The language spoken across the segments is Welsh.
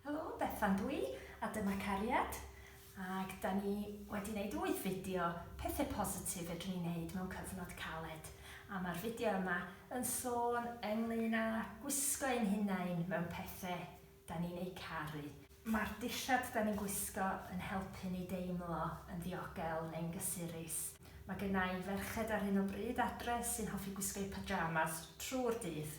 Helo, Bethan dw i, a dyma Cariad, ac da ni wedi wneud wyth fideo pethe positif fedrwn ni wneud mewn cyfnod caled, a ma'r fideo yma yn sôn ynglŷn â gwisgo ein hunain mewn pethe 'da ni'n eu caru. Mae'r dillad 'da ni'n gwisgo yn helpu ni deimlo yn ddiogel neu'n gysurus. Mae genna i ferched ar hyn o bryd adre sy'n hoffi gwisgo eu pyjamas trwy'r dydd.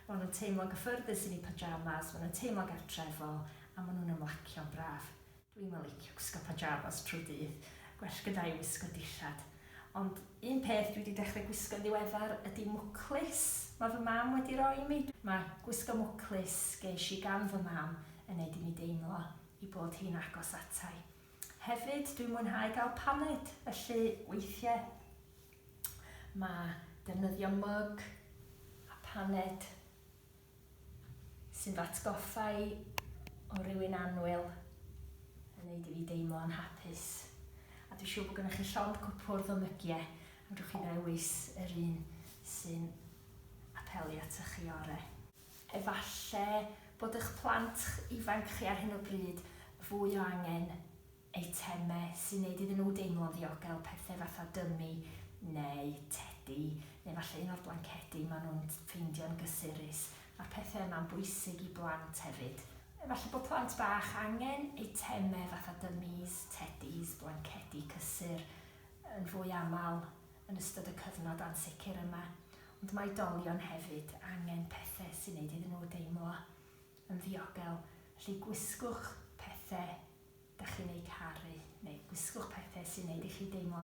Maen nhw'n teimlo'n gyffyrddus yn eu pyjamas, maen nhw'n teimlo'n gartrefol a maen nhw'n ymlacio'n braf. Dwi'm yn licio gwisgo pajamas trwy dydd, gwell gyda'u wisgo dillad. Ond un peth dwi 'di dechre gwisgo'n ddiweddar ydi mwclis ma' fy mam wedi roi i mi. Ma' gwisgo mwclis gesh i gan fy mam yn neud i mi deimlo 'i bod hi'n agos ata'i. Hefyd dwi'n mwynhau ga'l paned, felly weithie ma' defnyddio myg a paned sy'n fy atgoffa i o rywun annwyl yn neud i fi deimlo yn hapus. A dwi'n siŵr bod gennych chi llond cwpwrdd o mygie, fedrwch chi ddewis yr un sy'n apelu atoch chi ore. Efalle bod eich plant ifanc chi ar hyn o bryd fwy o angen eitemau sy'n neud iddyn nhw deimlo'n ddiogel, pethe fatha dymi neu tedi, neu falle un o'r blancedi maen nhw'n ffeindio'n gysurus. Ma'r pethe yma'n bwysig i blant hefyd. Falle bod plant bach angen eitemau fatha dymis, tedis, blancedi cysur yn fwy aml yn ystod y cyfnod ansicr yma, ond mae oedolion hefyd angen pethe sy'n neud iddyn nhw deimlo yn ddiogel, felly gwisgwch pethe dach chi'n eu caru, neu gwisgwch pethe sy'n neud i chi deimlo.